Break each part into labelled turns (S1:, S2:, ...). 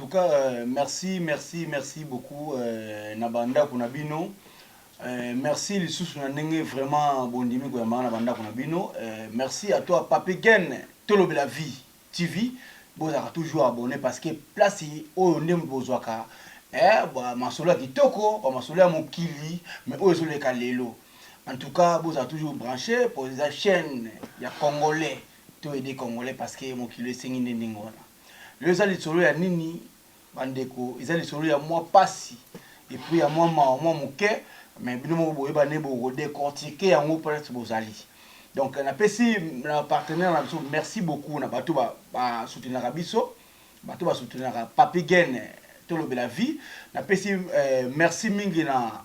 S1: tout cas merci merci merci beaucoup na ba ndaku na bino merci lisusu na ndenge vraiment bondimi koyambanga na ba ndaku na bino merci à toi pape gen tolobela vie tv bozalaka toujours abonne parce que place oyo nde bozwaka eh, ba masolo ya kitoko ba masolo ya mokili mais oyo ezoleka lelo en tout cas bozala toujours branché mpo eza chaîne ya congolais to aide congolais parce que mokili esengi nde ndenge wana Lelo eza lisolo ya nini ba ndeko? Eza lisolo ya mwa pasi et puis ya mwa mawa mwa moke mais bino moko boyeba nde bo ko decortiquer yango po neti bozali. Donc na pesi na ba partenaires na biso merci beaucoup na bato ba ba soutenaka biso, bato ba soutenaka Papy Gene tolobela vie. Na pesi merci mingi na.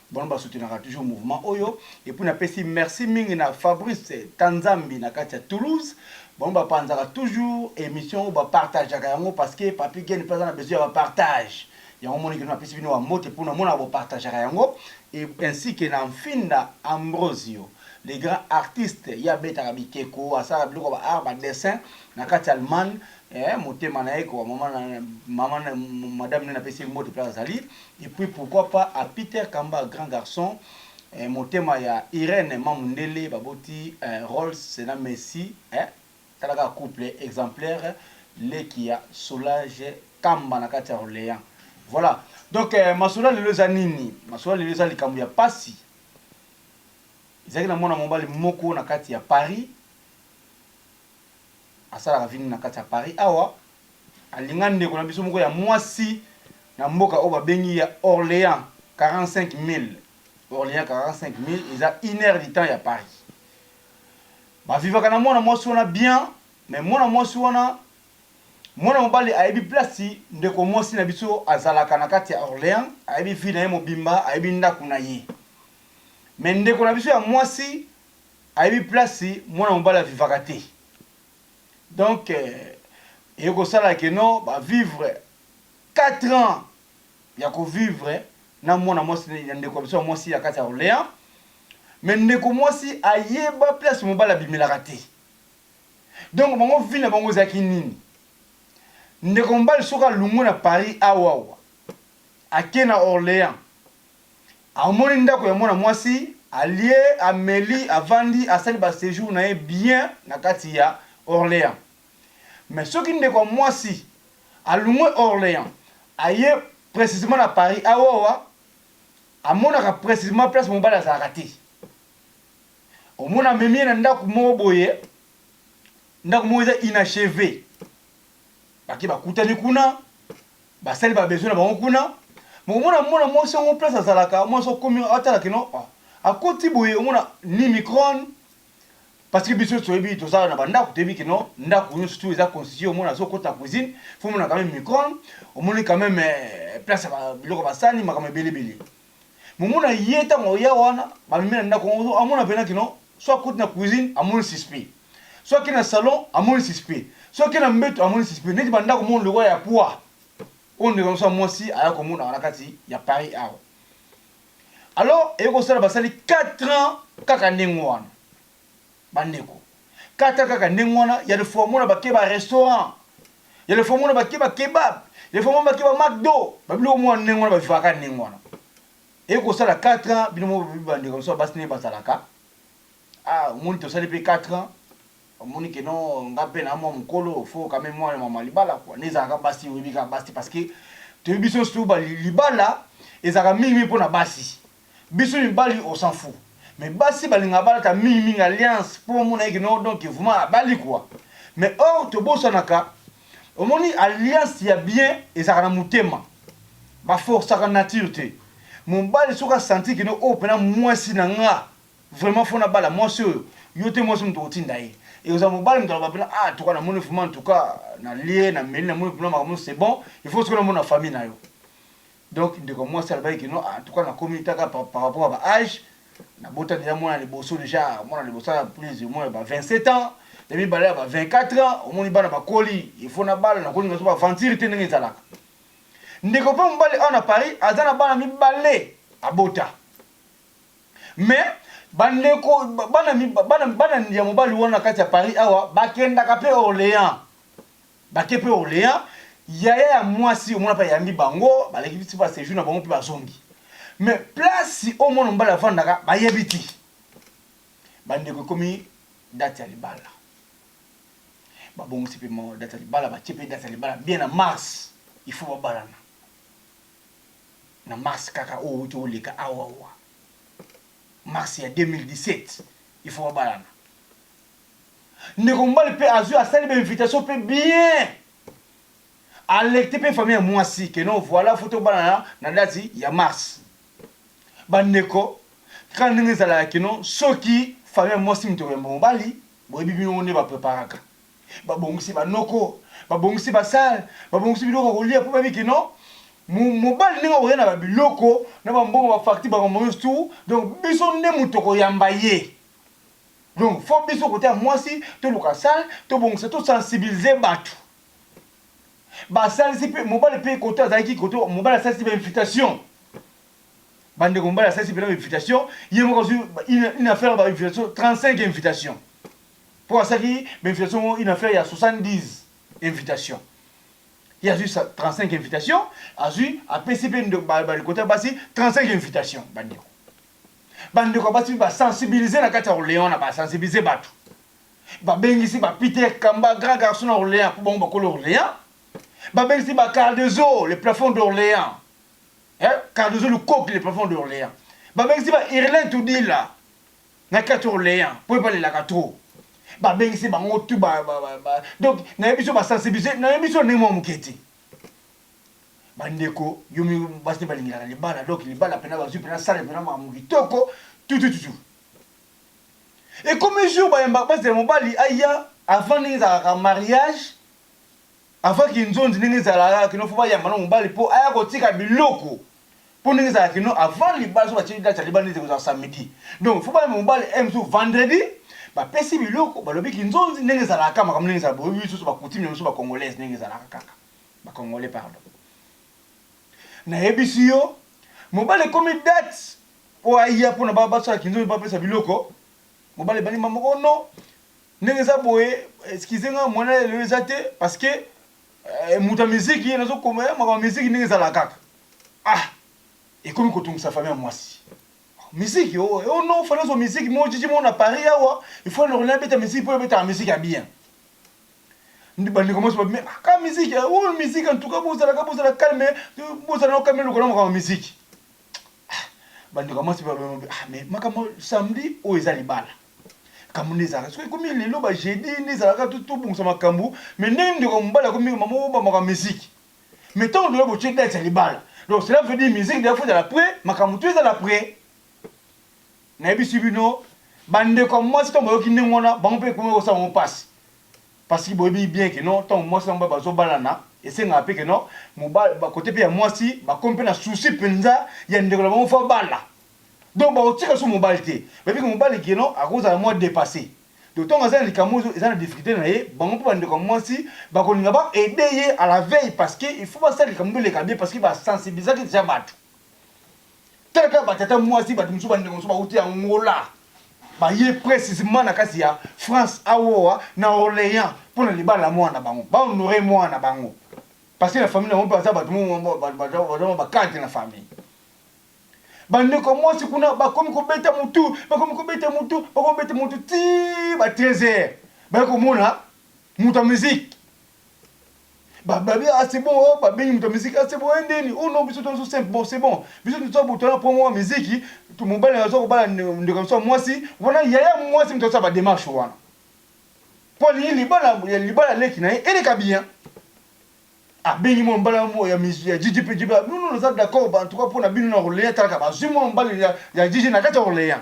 S1: Bango ba soutenaka toujours mouvement oyo et puis na pesi merci mingi na Fabrice Kanzambi na kati ya Toulouse bango ba panzaka toujours emission oyo ba partagaka yango parce que Papy Gene pe aza na besoin ya ba partage yango omoni que na pesi bino ba mbote po na monaka bo partagaka yango et ainsi que na Nfinda Ambrosio le grand artiste ye abetaka bikeko asalaka biloko ya ba art ba dessin na kati ya Allemagne eh motema na ye ko maman na maman madame ne na pesi ye mbote place azali Et puis pourquoi pas à Peter kamba grand garçon eh motema ya Irène ma mundele baboti eh Rolls na Messi eh tala kaka couple exemplaire leki ya Solange kamba na kati ya Orleans voilà donc eh masolo lelo eza nini masolo lelo eza likambo ya pasi ezalaki na mwana mobali moko na kati ya Paris asalaka vie nini na kati ya Paris awa? Alinga ndeko na biso moko ya mwasi na mboka oyo babengi ya Orleans 45 milles, Orleans 45 milles eza une heure du temps ya Paris. Ba vivaka na mwana mwasi wana bien, mais mwana mwasi wana mwana mobali ayebi place ndeko mwasi na biso azalaka na kati ya Orleans, ayebi vie na ye mobimba, ayebi ndako na ye. Mais ndeko na biso ya mwasi Ayebi place mwana mobali a vivaka te donc eye kosala que no ba vivre quatre ans ya ko vivre na mwana mwasi ya ndeko ya biso ya mwasi ya kati ya Orleans mais ndeko mwasi ayeba place mobali abimelaka te donc bango vie na bango ezalaki nini ndeko mobali soki alungwe na Paris awa awa ake na Orleans Amoni ndaku ya mwana mwasi, alie, ameli, avandi, asali ba sejours na ye bien na kati ya Orleans. Mais soki ndeko ya mwasi alungwe Orleans aye precisement na Paris aowa, amonaka precisement place mobali azalaka te. Omona amemi ye na ndaku moko boye, ndaku moko eza inacheve. Bake bakutani kuna, Basali ba besoin na bango kuna mais omona mwana mwasi yango place azalaka mwana mwasi akomi awa tala kino akoti boye omona ni micron parce que biso toyebi toza na ba ndaku toyebi kino ndaku nionso tout eza constitue omona azo kota na cuisine faut omona quand meme micron omoni quand meme place ya biloko ba sani makambo ebele ebele Mumu na ye tango akoya wana bamemi na ndaku yango amona pena que non soit akuti na cuisine amoni suspect soit ake na salon amoni suspect soit ake na mbetu amoni suspect neti ba ndaku moko lokola ya pua oyo ndeko na biso ya mwasi aya komonaka na kati ya Paris awa alors eye kosala basali 4 ans kaka ndenge wana. Ba ndeko kata kaka ndenge wana ya le faut omona ba ke ba restaurant ya le faut omona ba ke ba kebab ya le faut omona ba ke ba McDo ba biloko omona ndenge wana ba vivaka kaka ndenge wana eye kosala 4 ans bino moko ba ndeko mosusu basi ndenge bazalaka ah omoni tosali pe 4 ans omoni ke non nga mpe na mwa mokolo fo kame mwana mama libala kua nde ezalaka basi oyebi kaka basi te parce que toyebi biso nsusu libala ezalaka mingi mpo na basi Biso mibali on s'en fou mais basi balingaka balata mingi mingi alliance po bamona ye ke non donc vraiment abali quoi mais or tobosanaka omoni alliance ya bien ezalaka na motema ba forcaka nature te mobali soki a sentir ke non oyo pena muasi na nga vraiment faut nabala muasi oyo yo te muasi mutu okotinda ye ekozala mobali mutu aloba pena ah toka namoni vraiment en tout cas nalie nameli namoni pena makambo nionso c'est bon il faut sikoyo namona famille na yo Donc ndeko mwasi alobaki que non en tout cas nakomi ta ka par rapport ya ba age nabota dejà mwana ya liboso dejà mwana ya liboso aza plus ou moins ya ba 27 ans ya mibale ya ba 24 ans omoni bana bakoli il faut nabala nakoki nazo ba aventure te ndenge ezalaka ndeko mpe mobali awa na Paris aza na bana mibale abota mais bandeko bana bana bana ya mobali wana kati ya Paris awa bakendaka mpe Orléans Bake pe olean yaya ya muasi omona pe ayambi bango baleki bisi ba sejour na bango pe bazongi mais place oyo mwana mobali avandaka bayebi te ba ndeko ekomi date ya libala ba bongisi pe mo date ya libala batie pe date ya libala bien na mars il faut babalana na mars kaka oyo uti oleka awa awa mars ya 2017 il faut babalana Ndeko mobali pe azui asali ba invitation pe bien alecte pe famille ya muasi que non voila faut tobalana na date ya mars ba ndeko kaka ndenge ezalaka que non soki famille ya muasi mutu ekoyamba mobali boyebi bino moko nde ba preparaka ba bongisi ba noko ba bongisi ba salle ba bongisi biloko ya kolia po bayebi que non mobali ndenge akoya na ba biloko na ba mbongo ba facture ba makambo nionso tout donc biso nde mutu tokoyamba ye. Donc faut biso kote ya mwasi toluka salle tobongisa to sensibiliser batu basalisi pe mobali pe kote azalaki kote mobali asalisi ba invitation bandeko mobali asalisi pe na invitation ye moko azwi une affaire ba invitation 35 invitation po asaki ba invitation moko une affaire ya 70 invitation ye azwi 35 invitation azwi apesi pe kote ya basi 35 invitation bandeko Ba ndeko ya basi mpe ba sensibiliser na kati ya Orleans na ba sensibiliser batu. Ba bengisi ba Peter Kamba grand garçon na Orleans mpo bango bakolo Orleans. Ba bengisi ba Cardozo le plafond d'Orleans. Eh, Cardozo Lukoki le plafond d'Orleans. Ba bengisi ba Irlin Tudila na kati Orleans mpo ebalelaka trop. Ba bengisi bango tout ba, ba, ba, ba. Donc nayebi biso ba sensibiliser, nayebi biso na ndenge mwa moke te. Ba ndeko yo mi basi nde balingelaka libala donc libala pena bazui pena sale pena makambo kitoko tutututu ekomi jour bayemba bazela mobali aya avant ndenge ezalaka mariage avant kinzonzi ndenge ezalaka kino fo bayamba na mobali po aya kotika biloko po ndenge ezalaka kino avant libala so batie date ya libala ndenge ekozala samedi donc fo bayamba mobali e mosusu vendredi bapesi biloko balobi kinzonzi ndenge ezalaka makambo ndenge ezalaka boyebi biso so bakutimi na biso bakongolaise ndenge ezalaka kaka ba congolais pardon na yebisi yo mobali ekomi date po aya pona ba basala kinzo ba pesa biloko mobali bani mama ko non ndenge eza boye excusez nga mwana ya lelo eza te parce que eh, moto ya miziki nazo koma ya makambo miziki ndenge ezala kaka ah ekomi kotungisa famille ya mwasi miziki oh, oh non fana zo miziki mo jiji mo na Paris awa il faut na rona beta miziki po beta miziki ya bien Ba ndeko mwasi ba bimi ah ka musique eh oyo musique en tout cas bo zala ka bo zala calme bo zala no calme lokola makambo musique ah ba ndeko mwasi ba bimi ah mais makambo samedi oyo eza libala kambo ne zala soki komi lelo ba jeudi ne zala ka tout tout bongisa makambo mais ne ndeko mbala komi maman oba makambo musique mais tant de bo che date libala donc cela veut dire musique de faut de la près makambo tu eza la près Nayebisi bino, bandeko ya mwasi tango bayoki ndenge wana, bango mpe ekomaki kosala bango pasi. Parceque boyebi bien que non, tango mwasi na mobali bazobalana, esengaka mpe que non, mobali, ba cote mpe ya mwasi, bakomi mpe na souci penza ya ndeko na bango faut abala. Donc bakotika lisusu mobali te. Bayebi que mobali que non, akozala mua depasse. Donc tango aza na likambo oyo eza na difficulte na ye, bango mpe bandeko ya mwasi, bakolinga ba aider ye à la veille, parceque il faut basala likambo eleka bien, parceque ba sensibilisaki dejà batu. Tala kaka ba tata mwasi bato mosusu bandeko mosusu bauti Angola baye precisement na kati ya France awoa na Orleans mpo na libala na mwana na bango ba honore mwana na bango parce que na famille na bango mpe baza bato baza ba cadre na famille bandeko mwasi kuna bakomi kobeta motu bakomi kobeta motu bakomi kobeta motu ti ba 13 heures baye komona moto ya miziki Ba babi ah c'est bon oh ba bengi moto ya musique ah c'est bon eh ndeni oh non biso to naso simple bon c'est bon biso to za botana promo wa miziki to mobali nazo ko bala ndeko ya biso ya mwasi wana yaya mwasi moto asala ba demarche wana po alingi libala ya libala leki na ye eleka bien abengi mwa mbala mo ya mizu ya jiji pe jiba non non naza d'accord ba en tout cas pona bino na Orléans talaka bazui mwa mbala ya ya jiji na kati ya Orléans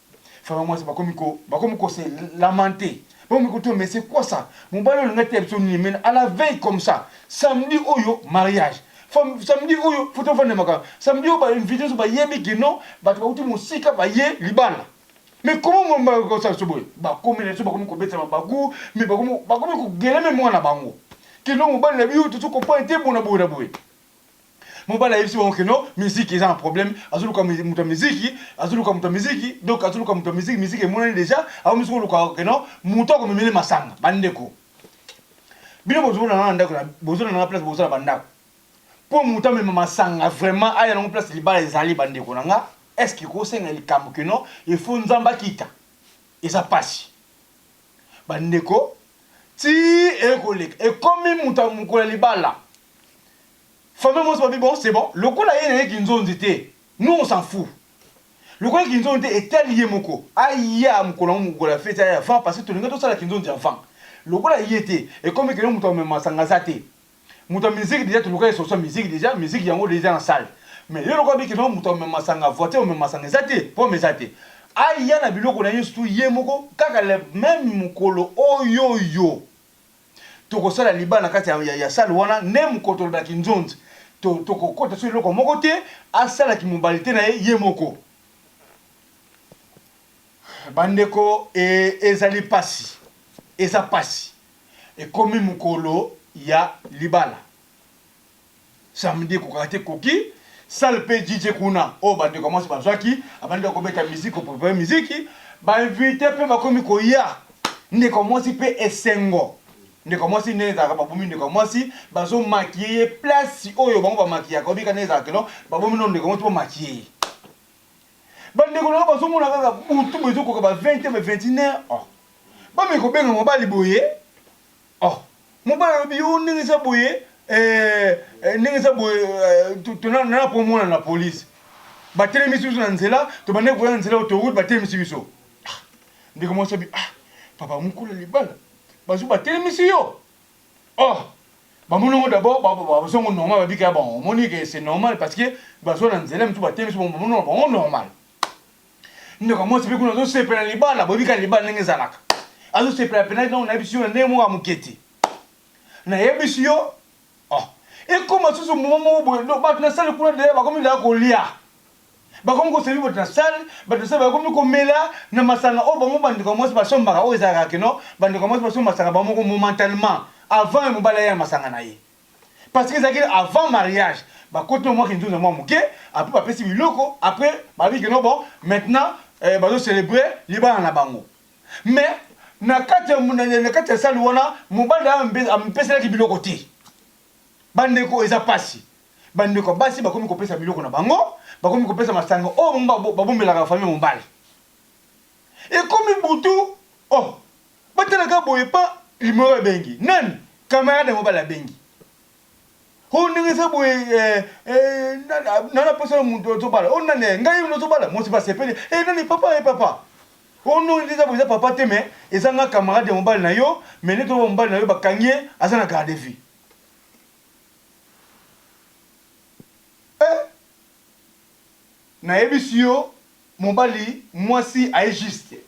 S1: Vraiment mwasi bakomi ko bakomi ko se lamenter bakomi ko to mais c'est quoi ça mobali oyo alingi ateya biso nini mais à la veille comme ça samedi oyo mariage samedi oyo faut tovanda makambo samedi oyo ba invite nyonso bayebi que non bato bauti mosika baye libala mais comment mobali bakoki kosala biso boye bakomi na biso bakomi kobeta mabaku mais bakomi bakomi kogele meme mwana bango que non mobali na biso tozo comprendre te bona boye na boye Mobali ayebisi bango que non musique eza na problème azo luka mutu ya musique azo luka mutu ya musique donc azo luka mutu ya musique musique emonani dejà akomi soko luka que non mutu ako memele masanga ba ndeko bino bozo na na ndako bozo na na place bozo na ba ndako po mutu amema masanga vraiment aya nango place libala ezali ba ndeko na nga est-ce que ko senga likambo que non il faut nzamba kita eza pasi ba ndeko ti ekoleka ekomi mutu ya mukolo libala Famille mwasi babi bon c'est bon lokola ye naye kinzonzi te nous on s'en fou lokola ye kinzonzi te etali ye moko aya mukolo yango mukolo ya feti aya avant parce que tolinga tosala kinzonzi avant lokola ye te ekomi keno mutu amema masanga aza te mutu ya musique dejà toluka ye solution ya musique dejà musique yango dejà na salle mais yo lokola obi keno mutu amema masanga voiture amema masanga eza te pomme eza te aya na biloko naye surtout ye moko kaka le meme mukolo oyoyo. toko sala liba na kati ya ya salle wana ne mukotolo na kinzonzi to toko kota so eloko moko te asala ki mobalite na ye ye moko ba ndeko e ezali pasi eza pasi ekomi mukolo ya libala. Samedi ekokaka te ekoki. Salle pe JJ kuna oyo ba ndeko ya mwasi bazwaki, abandi kaka kobeta musique, ko preparer musique, ba invites pe bakomi koya, ndeko ya mwasi pe esengo. Ndeko ya mwasi nde ezalaka babomi ndeko ya mwasi, bazo maquiller ye place oyo bango ba maquillaka, oyebi kaka ndenge ezalaka non, babomi nanu ndeko ya mwasi po ba maquiller ye. Ba ndeko na yo bazo mona kaka butu boye ezo koka ba 20 heures, ba 21 heures, oh! Bameki kobenga mobali boye. Oh mobali alobi oh ndenge eza boye eh ndenge eza boye eh, nana komona na police batelemisi biso na nzela tobandaki koya na nzela autoroute batelemisi biso ah, ndeko mwasi abi ah papa mokolo libala bazu batelemisi yo oh bamonongo d'abord bazongo normal babika ya bango omoni ke c'est normal parce que bazwa na nzela mitu batelemisi bango bamonongo bango normal Ndoka mwasi pe kuna azosepela libala, boyebi kaka libala ndenge ezalaka. Azosepela pena ntango nayebisi yo na ndenge moko ya moke te. Nayebisi yo, oh, ekoma susu moma moko boye, donc bato na sale kuna deya bakomi deya kolia. Bakomi kosebi bato na sale, bato na sale bakomi komela na masanga oyo bango bandeko ya mwasi basombaka, oyo ezalaka keno bandeko ya mwasi basomba masanga bango moko momentalement, avant mobali aya na masanga na ye. Parce que ezalaki avant mariage bakoti na mwa kinzonzo ya mwa moke après bapesi biloko après balobi que non bon maintenant eh, bazo celebrer libala na bango mais na kati ya na kati ya salle wana mobali na ye ampeselaki biloko te bandeko eza pasi bandeko basi bakomi kopesa biloko na bango bakomi kopesa masanga oyo oh, babombelaka famille mobali ekomi butu oh Batala kaka boye pa limolo abengi nani camarade yango bala abengi o ndenge eza boye eh, eh, nana posa na moto ozobala o nani eh, ngai ozobala mosi basepeli eh, nani papa eh, papa o ndongo eza boye eza papa te me eza nga camarade ya mobali na yo me neti oba mobali na yo bakangi ye aza na garde vie eh, nayebisi yo mobali mwasi aye juste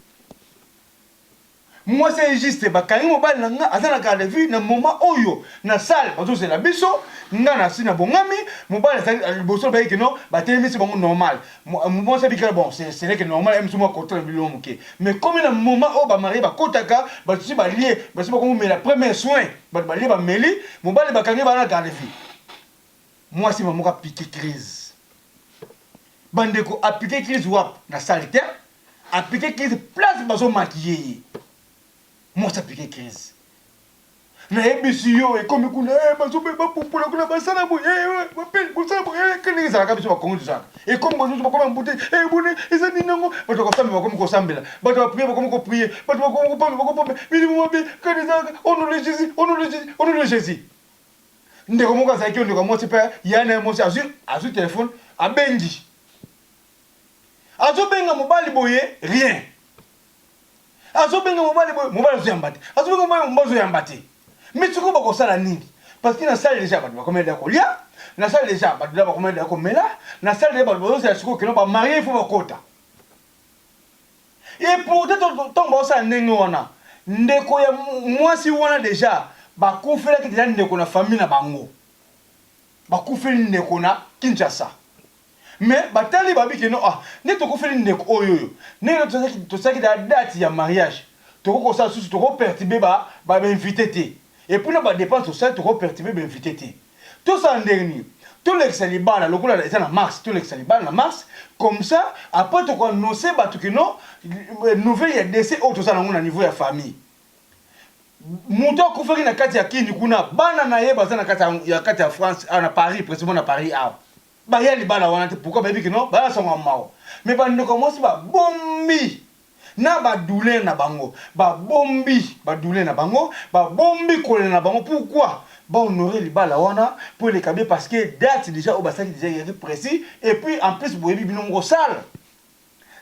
S1: Mwasi aye juste bakangi mobali na nga aza na garde à vue na moment oyo na salle bazo zela biso nga na si na bongami mobali azali liboso baye que non ba telemisi bango normal mwasi abikela bon c'est ce n'est que normal aye mususu mua kotala bilu mua muke mais ekomi na moment oyo ba marie ba kotaka batu esi balie basi bako mumela premier soin batu balie ba meli mobali bakangi ba na garde à vue mwasi mama moko a pique crise ba ndeko a pique crise wapi na salle te A pique crise place bazo maquiller ye. Mwasi a pique crise. Nayebisi yo ekomi kuna eh, bazo ba pupola kuna basala boye eh, eh, ba pe basala boye eh, kende ezalaka biso ba Kongo tozalaka. Ekomi bazo bakoma mpute eh bone eza nini nango bato bakosamba bakomi kosambela bato ba prier bakomi ko prier bato bakomi kopamba bakopamba milimu mabe kende ezalaka au nom de Jésus au nom de Jésus au nom de Jésus ndeko moko azalaki yo ndeko ya mwasi mpe ya na ye mwasi azwi azwi telefone abengi Azo benga mobali boye rien. Azo benga mobali boye mobali azo yamba te. Azo benga mobali mobali azo yamba te. Mais sikoyo bako sala nini? Parce que na salle dejà batu bako mela ko lia, na salle dejà batu dejà bako mela ko mela, na salle dejà batu bazo zela sikoyo kino ba marier il faut ba kota. Et pourtant tango bazo sala ndenge wana ndeko ya mwasi wana dejà ba kufelaki dejà ndeko na famille na bango. Ba kufeli ndeko na Kinshasa. Mais batali babi que non ah nde tokufeli ndeko oyoyo ndenge nde tozalaki tosalaki dejà date ya mariage tokoki kosala lisusu toko pertuber ba ba invites te epuis na ba depenses tosali toko pertuber ba invites te tosala ndenge nini tolekisa libala lokola eza na mars tolekisa libala na mars comme ça après toko annoncer batu que non nouvelle ya decès oyo toza nango na niveau ya famille mutu akufaki na kati ya kin kuna bana naye baza na kati ya kati ya France awa na Paris precisement na Paris awa. Baya libala wana te pourquoi bayebi que non baza na sango ya mawa mais ba ndeko ya mwasi ba bombi na ba douleur na bango ba bombi ba douleur na bango ba bombi kolela na bango pourquoi ba honore libala wana po eleka bien parce que date dejà oyo basalaki dejà ezalaki precis et puis en plus boyebi bino moko salle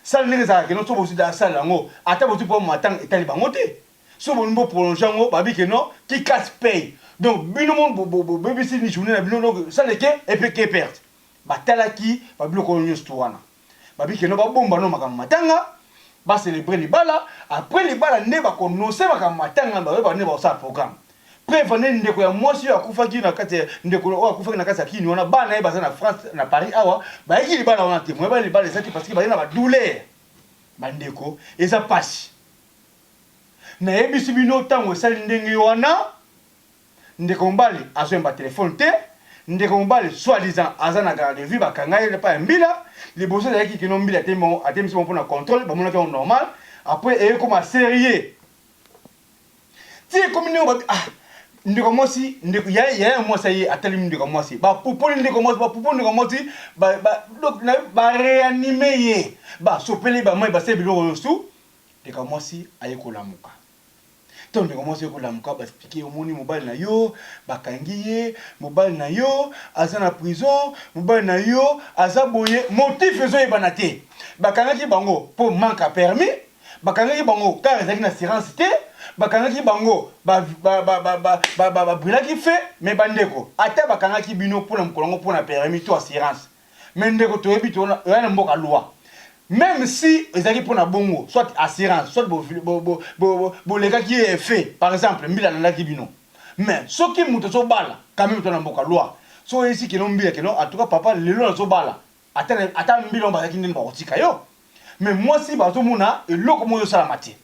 S1: Sala ndenge ezalaka ke non soki bozui dejà sala yango ata bozui po matanga etali bango te soki bolingi bo prolonger yango babi ke non qui casse paye donc bino mon bobebisi journee na bino donc ça ne que epe que perte batalaki ba biloko oyo nionso tout wana babi ke non babomba no makambo matanga ba celebrer libala après libala nde bako nose makambo matanga baye bande bakosala programme Preuve nde ndeko ya mwasi oyo akufaki na kati ya ndeko oyo akufaki na kati ya kin wana bana ye baza na France na Paris awa bayaki libala wana te moyen bana libala eza te parce que baye na ba douleur ba ndeko eza pasi nayebisi bino tango esali ndenge wana ndeko mobali azoyemba telefone te ndeko mobali soit disant aza na garde de vue bakanga ye pa ya mbila liboso ezalaki kino mbila atembisi bango mpo na contrôle bamonaki yango normal après eye koma serie ti ekomi ndenge bato ah ndeko mwasi ndeko ya ya mwasi ye atali ndeko mwasi ba pupoli ndeko mwasi ba pupoli ndeko mwasi ba ba donc na ba réanime ye ba sopele ba mai basali biloko yosu ndeko mwasi aye kolamuka ntango ndeko mwasi ekolamuka baexplike ye omoni mobali na yo bakangi ye mobali na yo aza na prison mobali na yo aza boye motif ezoyebana te bakangaki bango mpo manque a permis Bakangaki bango car ezalaki na assurance te bakangaki bango ba ba ba brulaki feu mais ba ndeko ata bakangaki bino pona mukolo yango pona permis to assurance mais ndeko toyebi toza na mboka loi meme si ezalaki pona bongo soit assurance soit bo bo bo bo lekaki ye feu par exemple mbila alandaki bino mais soki mutu azo bala quand meme toza na mboka loi soki oyebisi keno mbila keno en tout cas papa lelo nazo bala Ata na ata mbila yango bazalaki ndeni bakotika yo mais mwasi bazomona eloko moko ezosalama te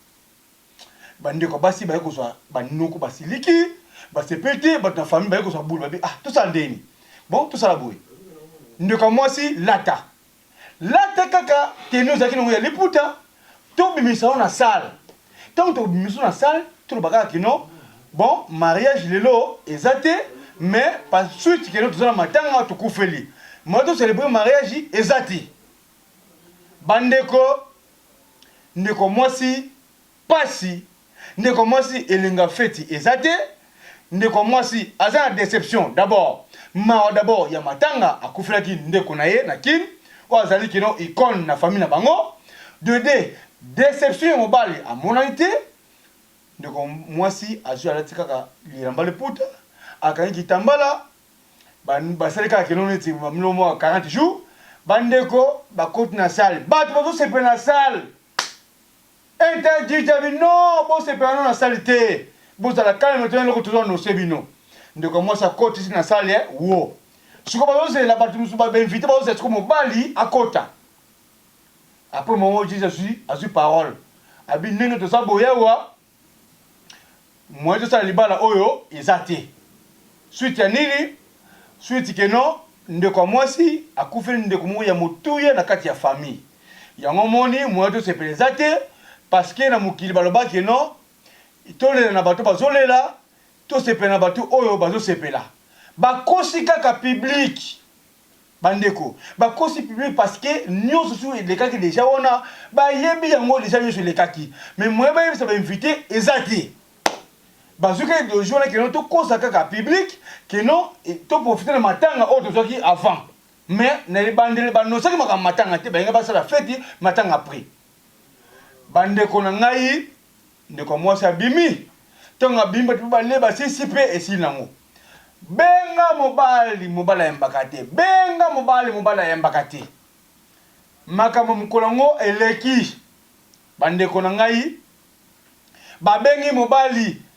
S1: bandeko basi baye kozwa banoko basiliki basepeli te bato na famille baye kozwa bulu babi ah tosala ndeni bon tosala boye ndeko ya mwasi lata lata kaka teni ozalaki nango ya liputa To bimisa yo na salle tango toko bimisa yo na salle to loba kaka kino bon mariage lelo eza te mais pa suite kino toza na matanga to kufeli moyen to celebrer mariage eza te ba ndeko ndeko mwasi pasi. Ndeko mwasi elenga feti eza te ndeko mwasi aza na deception d'abord mawa d'abord ya matanga akufelaki ndeko na ye na kin oyo azali kino icone na famille na bango de deux deception ya mobali amonani te ndeko mwasi azwi alati kaka lilamba liputa akangi kitambala basali kaka kino neti bamilo mwa 40 jours bandeko bakoti na salle bato bazosepela na salle Interdit jabi non bosepela no na salle te bozala calme tuna eloko tozo annonce bino ndeko ya mwasi akotisi na salle wo sikoyo bazozela batu mususu ba invite bazozela sikoyo mobali akota apres moment oyo jesus azui azui parole abi ndenge toza boye awa Moyen tosala libala oyo eza te suite ya nini? Suite que non ndeko ya mwasi akufeli ndeko moko ya motuya na kati ya famille yango omoni moyen tosepela eza te parce que na mokili baloba que non tolela na bato bazolela tosepela na bato oyo bazosepela bakosi kaka publique Ba ndeko bakosi public parce que nionso sur elekaki dejà wana ba yebi yango dejà nionso elekaki mais moyen ba yebisa ba invite eza te bazui kaka ideologie wana que non to kosa kaka public que non to profiter na matanga oyo tozuaki avant mais na ebandeli ba annoncaki makambo matanga te balinga basala feti matanga après ba ndeko na ngai Ndeko ya mwasi abimi. Tango abimi batu pe balie basisi pe esili nango. Benga mobali, mobali ayembaka te. Benga mobali, mobali ayembaka te. Makambo ya mokolo yango eleki. Bandeko na ngai babengi mobali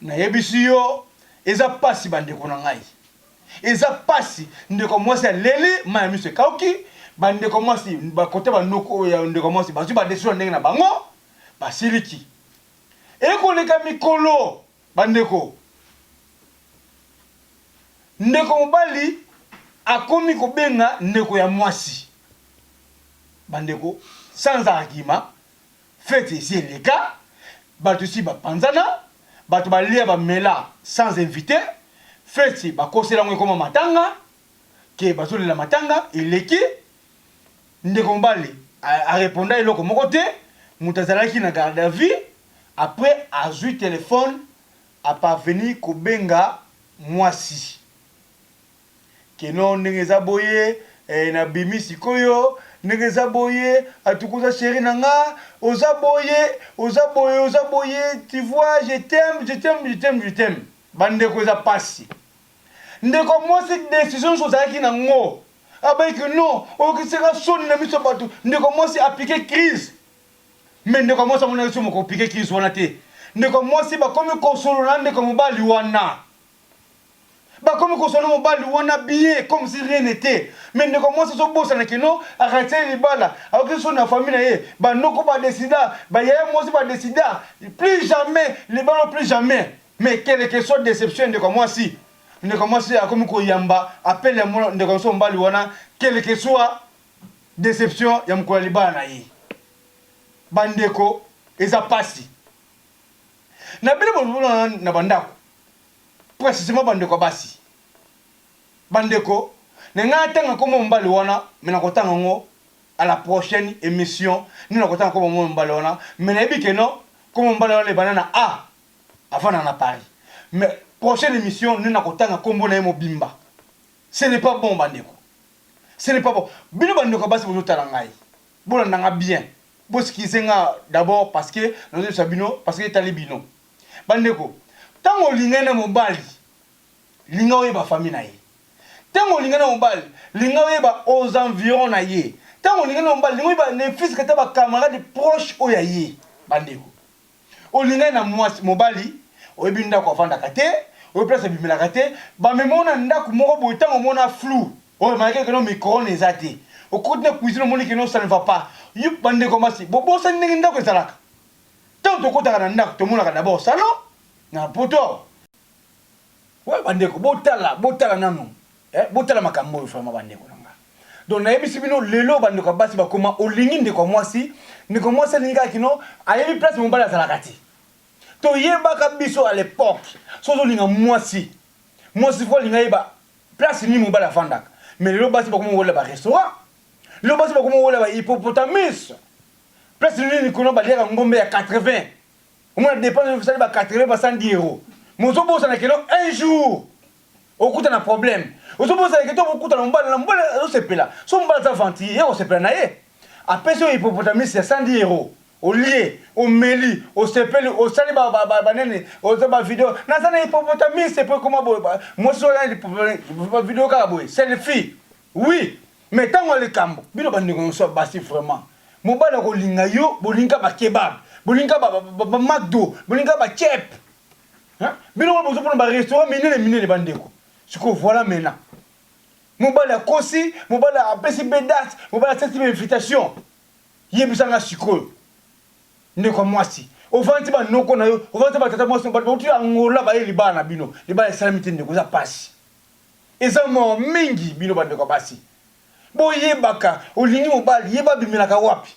S1: Nayebisi yo eza pasi ba ndeko na ngai eza pasi ndeko mwasi aleli mayi ya miso ekauki ba ndeko mwasi ba kote ba noko oyo ya ndeko mwasi bazui ba decision ndenge na bango basiliki ekoleka mikolo ba ndeko ndeko mobali akomi kobenga ndeko ya mwasi ba ndeko sans argument Feti esi eleka, batu esi ba panzana, batu ba lia ba mela sans invite, feti ba kosela yango ekoma matanga, que bazo lela matanga, eleki, ndeko mobali a reponda eloko moko te, mutu azalaki na garde à vue, après azui telephone a parvenir ko benga muasi. Que non ndenge eza boye eh na bimi sikoyo ndenge eza boye en tout cas oza cherie na nga oza boye oza boye oza boye tu vois je t'aime je t'aime je t'aime je t'aime ba ndeko eza pasi ndeko mwasi decision nionso ozalaki na ngo abaki que non oyokisi nga soni na miso ya batu ndeko mwasi a pique crise mais ndeko ya mwasi amonaki somo ko pique crise wana te ndeko ya mwasi bakomi kosolola na ndeko ya mobali wana Bakomi kozwa na mobali wana bien comme si rien n'etait. Mais ndeko ya mwasi azobosana que non, aratisaki ye libala, ayokisi soni na famille na ye, ba noko ba decida, ba yaya mwasi ba decida plus jamais libala oyo plus jamais. Mais quelle que soit deception ya ndeko ya mwasi, ndeko ya mwasi akomi koyamba appel ya ndeko ya biso mobali wana quelle que soit deception ya mokolo ya libala na ye. Ba ndeko eza pasi. Na bino bolongwe wana na ba ndako, precisement ba ndeko ya basi. Ba ndeko, na linga na tanga kombo ya mobali wana, mais na ko tanga yango à la prochaine emission, nde na ko tanga kombo ya mobali wana, mais na yebi que non, kombo ya mobali wana ebanda na A, avanda na Paris. Mais prochaine emission nde na ko tanga kombo na ye mobimba. Ce n'est pas bon ba ndeko. Ce n'est pas bon. Bino ba ndeko ya basi bozo tala ngai. Bolanda nga bien bo skize nga d'abord parce que nazo yebisa bino parce que etali bino ba ndeko tango olingani na mobali linga oyeba famille na ye tango olingani na mobali linga oyeba aux environs na ye tango olingani na mobali linga oyeba ne fusque ata ba camarade proche oyo ya ye ba ndeko Olingani na muasi, mobali, oyebi ndaku avandaka te, oyebi place abimelaka te, ba mema yo na ndaku moko boye tangu omona flou, o remarquer que non micro-ondes eza te, okoti na cuisine omoni que non ça ne va pas, yo ba ndeko ya basi bo bosani ndenge ndaku ezalaka? Tangu tokotaka na ndaku tomonaka d'abord salon na poto awa, Oyo bandeko botala botala nanu eh, botala makambo oyo vraiment bandeko na nga. Donc nayebisi bino lelo bandeko ya basi bakoma olingi ndeko ya mwasi, ndeko ya mwasi alingi kaka kino ayebi place mobali azalaka te. Toyebaka biso à l'époque soki ozolinga mwasi, mwasi fo alinga yeba place nini mobali afandaka. Mais lelo basi bakoma kolela ba restaurant, lelo basi bakoma kolela ba hippopotamus, place nini kuna baliaka ngombe ya 80 omona depense oyo osali ba 80 ba 100 diero mais ozobosana que non un jour okuta na problème ozobosana que to okuta na mobali na mobali azosepela so mobali aza ventille ye kosepela na ye apesi oyo hippopotamus ya 100 diero olie omeli osepeli osali ba ba ba banene oza ba video naza na hippopotamus epo ekoma boye mwasi oyo na hippopotamus ba video kaka boye selfie oui Mais tango ya likambo bino ba ndeko nioso ya basi vraiment mobali ako linga yo bolingi kaka ba kebab bolingi kaka ba macdo bolingi kaka ba cep hein bino moko bozo pona ba restaurant minene minene ba ndeko sikoyo voilà maintenant mobali akosi mobali apesi be date mobali asesi be invitation yebisa nga sikoyo ndeko ya mwasi ovandi ba noko na yo ovandi ba tata mwasi mobali bauti angola baye libala na bino libala esalami te ndeko eza pasi Eza mawa mingi bino ba ndeko ya basi bo yebaka olingi mobali yeba abimelaka wapi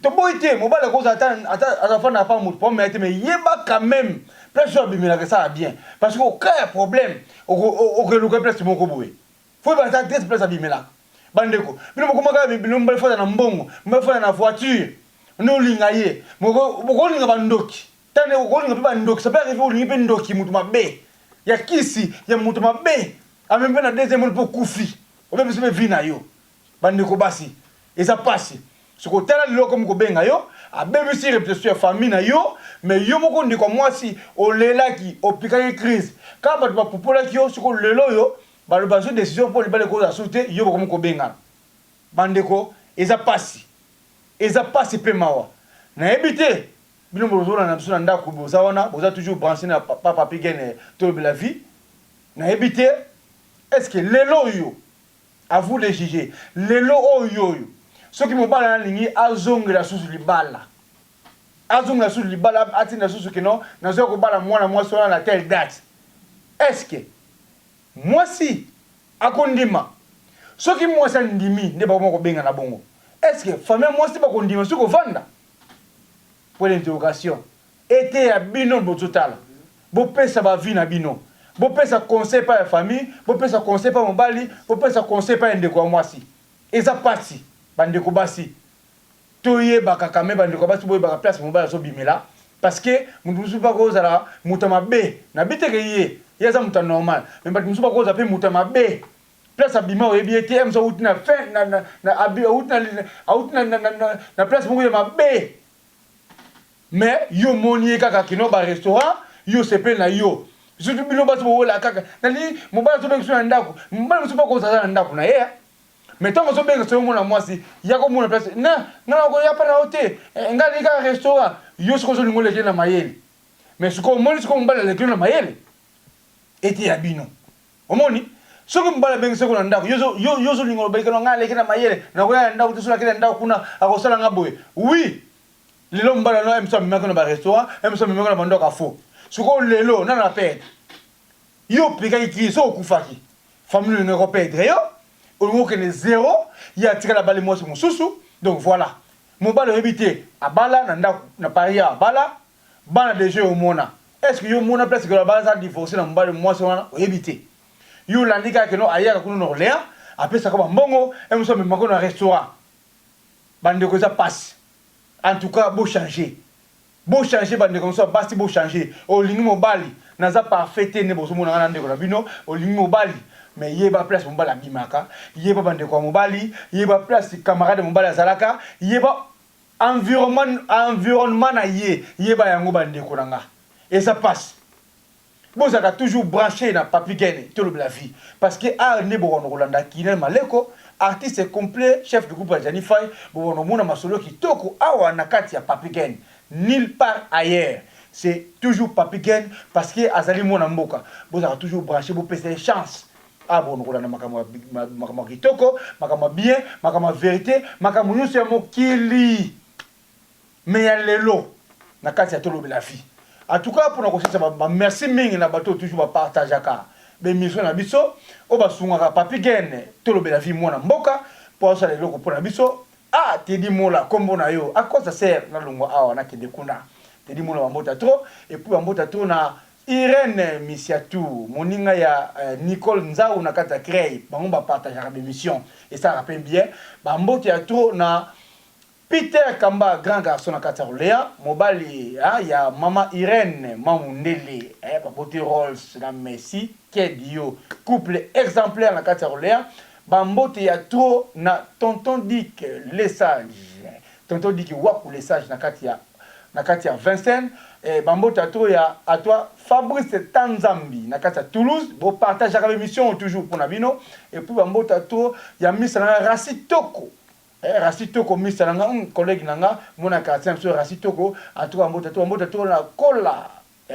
S1: toboyi te mobali ako zala ata azo fanda na pa mutu po amela te mais yeba quand meme place oyo abimelaka esala bien parce que au cas ya problème oko luka place moko boye faut yeba ata adresse place abimelaka ba ndeko bino bokoma kaka bino mibali fanda na mbongo mibali fanda na voiture nde olinga ye mais boko linga ba ndoki Tala ndeko kolinga pe ba ndoki ça peut arriver olingi pe ndoki mutu mabe ya kisi ya mutu mabe amemi pe na deuxième monde pe okufi obebisi pe vie na yo ba ndeko basi eza pasi sikoyo tala lelo akomi kobenga yo abebisi reputation ya famille na yo mais yo moko ndeko ya mwasi olelaki opikaki crise kaka batu ba pupolaki yo sikoyo lelo oyo balobi bazwi decision po libala ekozala susu te yo bokomi kobengana ba ndeko eza pasi eza pasi pe mawa nayebi te Bino bozolanda na biso na ndaku boza wana boza toujours branche na papa papy gene tolobela vie nayebi te est ce que lelo oyo à vous de juger lelo oyo oyo soki mobali na lingi azongela susu libala azongela susu libala atinda susu kino nazoya kobala mwana mwasi wana na telle date est ce que mwasi akondima soki mwasi andimi nde bakoma kobenga na bongo est ce que famille mwasi bakondima soki kovanda Point d'interrogation. Eteya bino bozo tala. Bo pesa ba avis na bino. Bo pesa conseil epa ya famille, bo pesa conseil epa mobali, bo pesa conseil epa ya ndeko ya mwasi. Eza pasi ba ndeko basi to yebaka quand meme ba ndeko basi bo yebaka place mobali azo bimela parce que mutu mususu pe ako zala mutu ya mabe. Na bi te ke ye ye aza mutu ya normal mais batu mususu bako zala pe mutu ya mabe. place abima oyebi ye te ems awuti na fin na, na, na, abi, awuti na, awuti na, na, na, na, na place moko ya mabe me yo omoni ye kaka kino barestaurant yo osepeli na yo surtout bino basi bowela kaka nalingi mobali azobengisa na ndako mobali mosusu mpe kozala na ndako na ye eh. me ntango ozobengisa yo omona mwasi ya komona place na nga nakoya mpa na yo te eh, ngai nalingi kaka restaurant yo soki ozolinga oleki na mayele me sikoyo omoni sikoyo mobali aleki na mayele eteya bino Omoni? Soki mobali abengi seko na ndako, yo ozo, yo, yo ozo linga oloba likalo, ngai aleki na mayele, nakoya na ndako te, soki nakei na ndako kuna, akosala ngai boye. Oui! Lelo mobali wana, MSo amemaki yo na ba restaurants, MSo amemaki yo na ba ndako ya faux. Sikoyo lelo, nani a perdre? Yo opekaki ki ye, soki okufaki, famille na bino eko perdre yo, olingi okende zero, ye atikali abali mwasi mosusu, donc voila. Mobali oyebi te, abala na ndako, na Paris awa, abala, bana dejà oyo omona est ce que yo omona place que bana za divorce na mobali mwasi wana oyebi te yo olandi kaka keno ayaka kuna na Orleans apesaka ba mbongo et mosusu amemaka yo na restaurant ba ndeko eza pasi en tout cas bo changer bo changer ba ndeko mosusu ya basi bo changer olingi mobali naza parfait te nde bozo mona nga na ndeko na bino olingi mobali mais yeba place mobali abimaka yeba ba ndeko ya mobali yeba place camarade ya mobali azalaka yeba Environnement na ye yeba yango ba ndeko na nga eza pasi bozalaka toujours branche na papy gene tolobela vie parce que art nde bokona kolanda kinel maleko artiste complet chef de groupe ya djani fayi bokona komona masolo kitoko awa na kati ya papy gene nul part ailleurs c'est toujours papy gene parce que azali mwana mboka bozalaka toujours branche bopesa ye chance Ah bon kolanda makambo ya makambo ya kitoko, makambo ya bien, makambo ya verite, makambo nionso ya mokili mais ya lelo na kati ya tolobela vie. En tout cas pona kosilisa ba, ba merci mingi na bato oyo toujours ba partageaka ba emission na biso oyo basungaka Papy Gene tolobela vie mwana mboka po azosala eloko pona biso. Ah Teddy Mola kombo na yo akosa sœur nalongwa awa nakende kuna Teddy Mola bambota trop et puis bambota trop na Irene Misiatou moninga ya Nicole Nzau na kati ya Crey bango ba partageaka ba emissions esalaka pe bien ba mbote ya trop na Peter Kamba grand garçon na kati ya Rolea mobali ya maman Irene ma mundele ba boti Rolls na Messi ked yo couple exemplaire na kati ya Rolea ba mbote ya trop na tonton Dick le sage Tonton Diki waku le sage na kati ya na kati ya Vincennes eh ba mbote à trop ya à toi Fabrice Tanzambi na kati ya Toulouse bo partagaka ba emissions toujours pona bino et puis ba mbote à trop ya Mister na nga Rassi Toko eh Rassi Toko Mister na nga hum collègue na nga mwana ya quartier na biso Rassi Toko en tout cas ba mbote à trop ba mbote à trop na Kola eh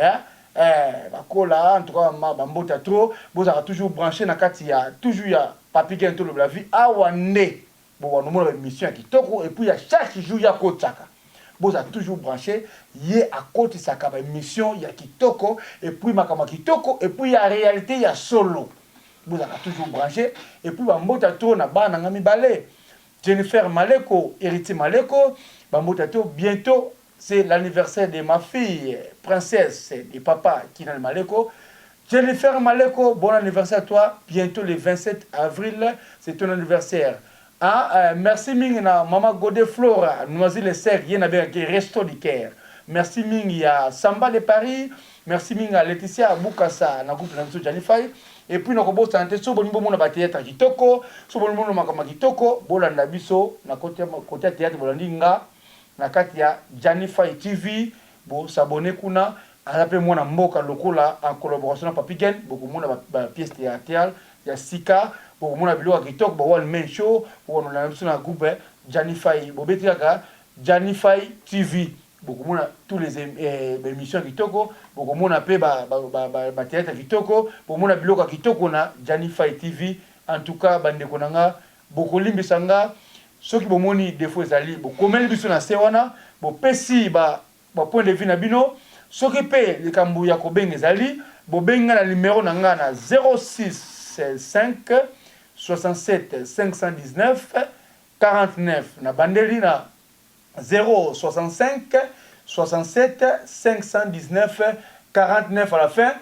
S1: eh ba Kola en tout cas ba mbote à trop bozalaka toujours branche na kati ya toujours ya Papy Gene tolobela vie awa nde Bon wana omona ba emission ya kitoko epuis ya chaque jour ye akotshaka bozala toujours branche ye akotisaka ba emission ya kitoko epuis makambo ya kitoko epuis ya realite ya solo bozalaka toujours branche epuis ba mbota to na bana na nga mibale Jennifer Maleko Heritier Maleko ba mbota to bientot C'est l'anniversaire de ma fille princesse de papa Kinan Maleko Jennifer Maleko bon anniversaire à toi bientot le 27 avril c'est ton anniversaire ah euh, merci mingi na maman Gode Flora Noisy le sec ye na benga ke resto du cœur merci mingi ya Samba de Paris merci mingi ya Laetitia Bukasa na groupe na biso Janify et puis nakobosana te so bolingi bomona ba théâtre kitoko so bolingi bomona makambo kitoko bolanda biso na kote ya théâtre bolandi nga na kati ya Djanny Faye TV bo s'abonner kuna aza pe mwana mboka lokola en collaboration na Papy Gene boko mona ba pièces theatrales ya sika boko mona biloko ya kitoko ba one man show boko landa na biso na groupe Djanny Faye bo beti kaka Djanny Faye TV boko mona tous les ba emissions ya kitoko boko mona pe ba theatre ya kitoko boko mona biloko ya kitoko na Djanny Faye TV en tout cas ba ndeko na nga Bokolimbisa nga soki bomoni defaut ezali, bokomeli biso na se wana, bopesi ba ba points de vue na bino. Soki pe likambo ya kobenga ezali, bobengi nga na numero na nga na 0656751949. Nabandeli na 0656751949 à la fin.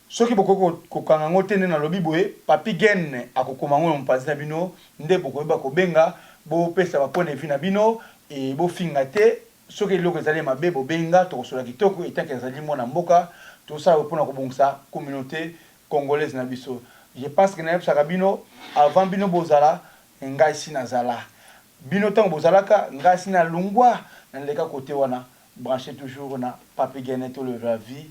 S1: Soki bokoki kokanga yango te nde nalobi boye, Papy Gene akokoma yango na mopanzi na bino nde bokoyeba kobenga, bopesa ba points de vue na bino et bofinga te. Soki eloko ezali ya mabe bobenga tokosolola kitoko etant que nazali mwana mboka, tozosala boye pona kobongisa communaute Congolaise na biso. Je pense que nayebisaka bino avant bino bozala ngai esi nazala. Bino tango bozalaka ngai esi nalungwa naleka cote wana. Brancher toujours na Papy Gene tolobela vie.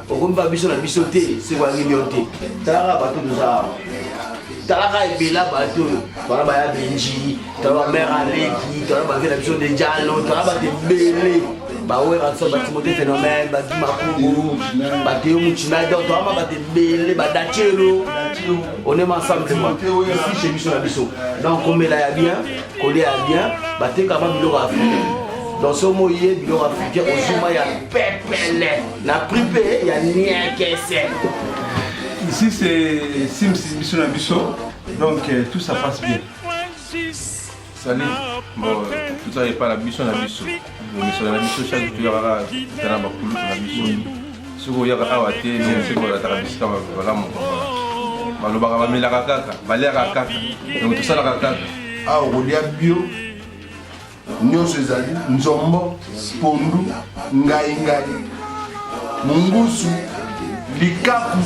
S2: okomi ba biso na biso te seko ya million te talaka bato toza awa talaka ebela bato oyo tala baya benji tala bamere aleki tala bake na biso dejalo tala bato ebele bawera biso batimote phénomène badi makungu bateo mucina donc toyama bato ebele badacelo on est ensemble ici chez biso na biso donc komela ya bien kolia ya bien batekama biloko africain donc somo ye biloko africain ozuma ya pepele na prix mpe
S3: ya niekese ici c'est sims biso na biso donc euh, tout ça passe bien sali bon tozala epai na biso na biso misala na biso chaque toyaka ta na bakulutu na biso soki oyaka awa te soki olataka bisika balamu balobaka bamelaka kaka baliaka kaka donc tosalaka kaka awa okolia
S4: bio nyonso ezali nzombo pondu ngaingai mungusu likaku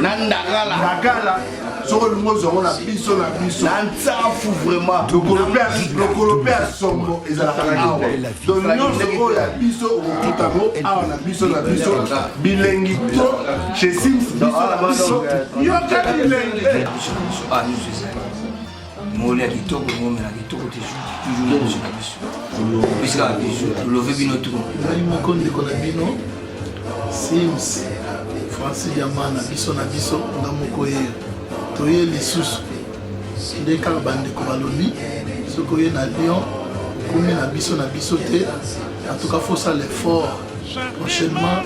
S4: na
S2: ndakala ndakala
S4: soki olingi ozwa yango na biso na biso na nsafu vraiment
S2: lokolo
S4: mpe ya sombo ezalaka na awa donc nyonso oyo ya biso okokuta yango awa na biso na biso bilengi to chez sims biso na biso yoka bilengi
S5: moli ya kitoko ngomela kitoko toujours na biso opesi kaka biso tolove bino tu ngai moko ndeko na
S6: bino sims francis yama na biso na biso nga moko ye toye lisusu nde kaka bandeko balobi soki oye na lyon okomi na biso na biso te atuka fosala effort prochainement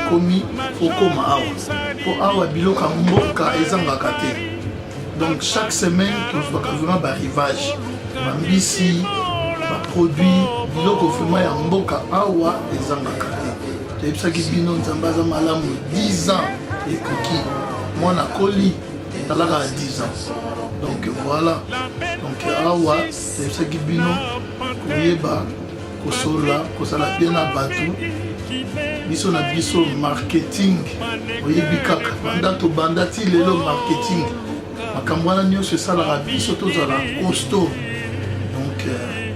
S6: okomi fokoma awa mpo awa biloko ya mboka ezangaka te donc chaque semaine tozwaka vraiment barivage bambisi baproduit biloko vraiment ya mboka awa ezangaka te toyebisaki bino nzambe aza malamu 10 ans ekoki mwana akoli etalaka ya 10 ans donc voilà donc awa toyebisaki bino koyeba kosolola kosala mpe na bato biso na biso marketing oyebi kaka banda tobanda ti lelo marketing makambo wana nyonso esalaka biso tozala costo donc euh,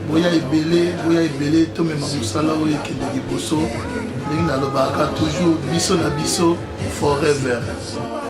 S6: boya ebele boya ebele tomema mosala oyo ekende liboso ndenge nalobaka toujours biso na biso forever